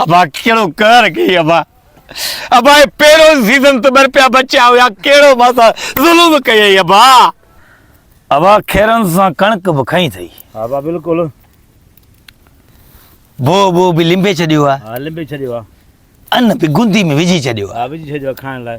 ابا ڪهڙو قهر ڪيئي ابا ابا هي پهريون سيزن ته ٻر پيا بچيا هيا ڪهڙو مان سان ظلم ڪيئي ابا ابا کيرن سان ڪڻڪ به کئي اٿئي ها ابا بلڪل بو بو به لنبي ڇڏيو آ ها لنبي ڇڏيو آ ان به گندي ۾ وجهي ڇڏيو آ ها وجهي ڇڏيو آ کائڻ لاء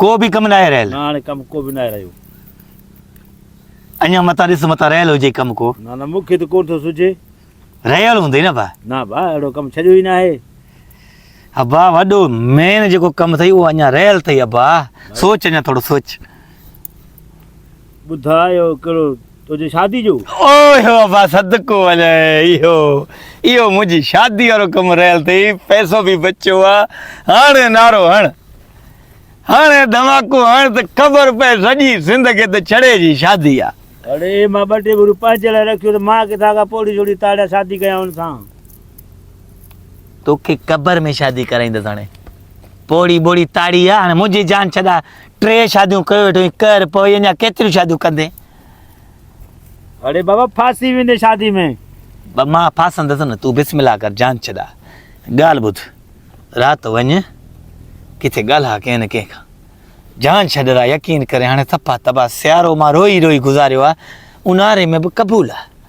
ڪو به ڪم ناهي رهيل. نه هاڻي ڪم ڪو به ناهي رهيو. اڃا متان ڏس متان رهيل هجي ڪم ڪو. نه نه مون کي ته ڪونه ٿو سجهي. رهيل هوندئي نه ڀاء. نه ڀاء اهڙو ڪم ڇڏيو ئي ناهي. ابا وڏو مين جيڪو ڪم اٿئي اهو اڃا رهيل اٿئي ابا سوچ اڃا ٿورو سوچ. ٻڌاء اهو ڪهڙو تنهنجي شادي جو. اوهه ابا صدقو وڃان اهو اهو منهنجي شادي وارو ڪم رهيل اٿئي پئسو به بچيو آ هاڻ نعرو هڻ هاڻ ڌماڪو هڻ ته خبر پئي سڄي سنڌ کي ته ڇڙي جي شادي آ. اڙي مان ٻه ٽي ڀيرون پنهنجي لاء رکيو ته مان ڪٿان کان پوڙهي شوڙهي تاڙيان شادي ڪيان ان سان. توکي قبر ۾ شادي ڪرائيندس هاڻي پوڙهي ٻوڙهي تاڙي آ هاڻ منهنجي جان ڇڏاء ٽي شاديون ڪيو ويٺو آهين ڪر پوي اڃا ڪيتريون شاديون ڪندين. اڙي بابا ڦاسي ويندين شادي ۾. بابا مان ڦاسندس نه تون بسم الله ڪر جان ڇڏاء ڳالهه ٻڌ رات وڃ ڪٿي ڳالهاء ڪنهن نه ڪنهن کان جان ڇڏ را يقين ڪري هاڻي صفا تباهه سيارو مان روئي روئي گذاريو آهي اونهاري ۾ به قبول آهي.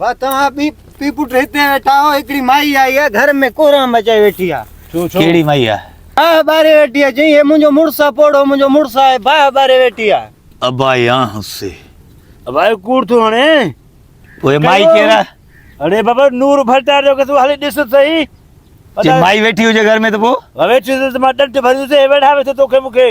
ڀا توهان ٻي پي پٽ هتي ويٺا آهو هڪڙي مائي آئي آ گهر ۾ ڪورام مچائي ويٺي آ ڇو ڇو ڪهڙي مائي آ باهه ٻاري ويٺي آ چئين هي منهنجو مڙس آ پوڙهو منهنجو مڙس آهي باهه ٻاري ويٺي آ. ابائي آنه سي. ابائي ڪوڙ ٿو هڻي. پوء هي مائي ڪير آ. اڙي بابا نور ڀٽار جو ڪيس هلي ڏس ته سهي. جي مائي ويٺي هجي گهر ۾ ته پوء. ويٺي هجي ته مان ڏنڊ ڀريندس هي ويڙهائي ويٺو توکي مونکي.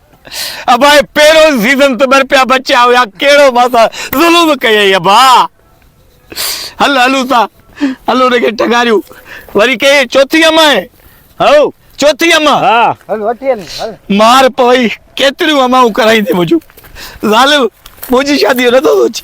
ابا هي پهريون سيزن ته ٻرپيا بچيا هيا ڪهڙو مان سان ظلم ڪيئي ابا هل هلون ٿا هل ان کي ٽگاريون وري ڪي چوٿي اما آهي هو چوٿي اما ها هل وٺي هل هل مار پوي ڪيتريون اماون ڪرائيندي منهنجو ظالم منهنجي شادي جو نٿو سوچي